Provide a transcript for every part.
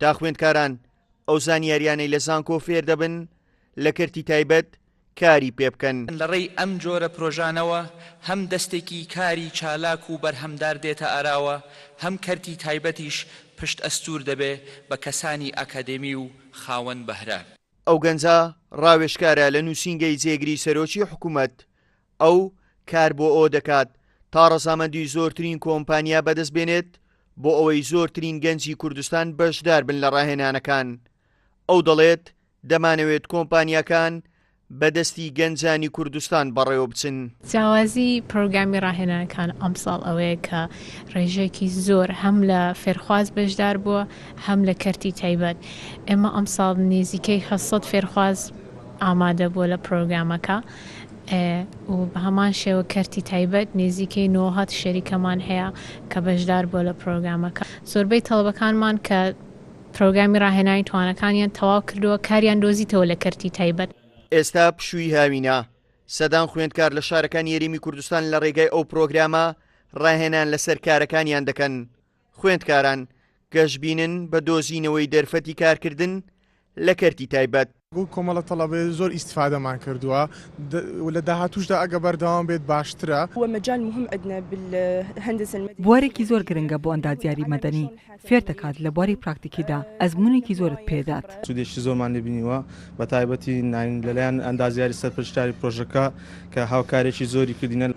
تا خوێندکاران ئەو زانیاریانەی لە زانکۆ فێر دەبن لە کەرتی تایبەت کاری پێ بکەن. لە ڕێی ئەم جۆرە پرۆژانەوە هەم دەستێکی کاری چالاک و بەرهەمدار دێتە ئاراوە، هەم کەرتی تایبەتیش پشت ئەستوور دەبێ بە کەسانی ئاکادێمی و خاوەن بەهرە. ئەو گەنجە ڕاوێژکارە لە نووسینگەی جێگری سەرۆکی حکوومەت ئەو کار بۆ ئەوە دەکات تا ڕەزامەندی زۆرترین کۆمپانیا بەدەست بێنێت بۆ ئەوەی زۆرترین گەنجی کوردستان بەشدار بن لە ڕاهێنانەکان ئەو دەڵێت دەمانەوێت کۆمپانیاکان بە دەستی گەنجانی کوردستان بەڕێوە بچن. جیاوازی پرۆگرامی ڕاهێنانەکان ئەمساڵ ئەوەیە کە ڕێژەیەکی زۆر هەم لە فێرخواز بەشدار بووە هەم لە کەرتی تایبەت ئێمە ئەمساڵ نێزیکەی هەشت سەد فێرخواز ئامادە بووە لە پرۆگرامەکە. ئێ و بە هەمان شێوە کەرتی تایبەت نێزیکەی نۆهەد شەریکەمان هەیە کە بەشدار بووە لە پرۆگرامەکە. زۆربەی تەڵەبەکانمان کە پرۆگرامی ڕاهێنانی توانەکانیان تەواو کردووە کاریان دۆزیتەوە لە کەرتی تایبەت. ئێستا پشووی هاوینە، سەدان خوێندکار لە شارەکانی هەرێمی کوردستان لە ڕێگای ئەو پرۆگرامە ڕاهێنان لەسەر کارەکانیان دەکەن. خوێندکاران گەشبینن بە دۆزینەوەی دەرفەتی کارکردن لە کەرتی تایبەت. وەک کۆمەڵە تەڵەبەی زۆر ئیستفادەمان کردووە و لە داهاتووشدا ئەگە بەردەوام بێت باشترە. بوارێکی زۆر گرنگە بۆ ئەندازیاری مەدەنی، فێر دەکات لە بواری پراکتیکیدا، ئەزموونێکی زۆرت پێ دەدات. سوودێکی زۆرمان لێ بینیوە بە تایبەتی ناین لەلایەن ئەندازیاری سەرپەرشتیاری پرۆژەکە کە هاوکاریی زۆری کردینە.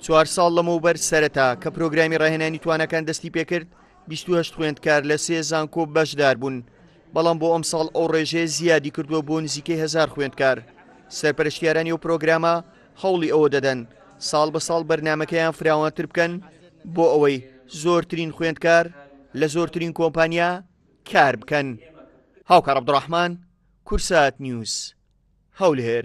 چوار ساڵ لەمەوبەر سەرەتا کە پرۆگرامی ڕاهێنانی توانەکان دەستی پێکرد، 28 خوێندکار لە سێ زانکۆ بەشدار بوون، بەڵام بۆ ئەمساڵ ئەو ڕێژەیە زیادی کردووە بۆ نزیکەی هەزار خوێندکار. سەرپەرشتیارانی ئەو پرۆگرامە هەوڵی ئەوە دەدەن ساڵ بە ساڵ بەرنامەکەیان فراوانتر بکەن بۆ ئەوەی زۆرترین خوێندکار لە زۆرترین کۆمپانیا کار بکەن. هاوکار عبدالرحمن کورسات نیوز هەولێر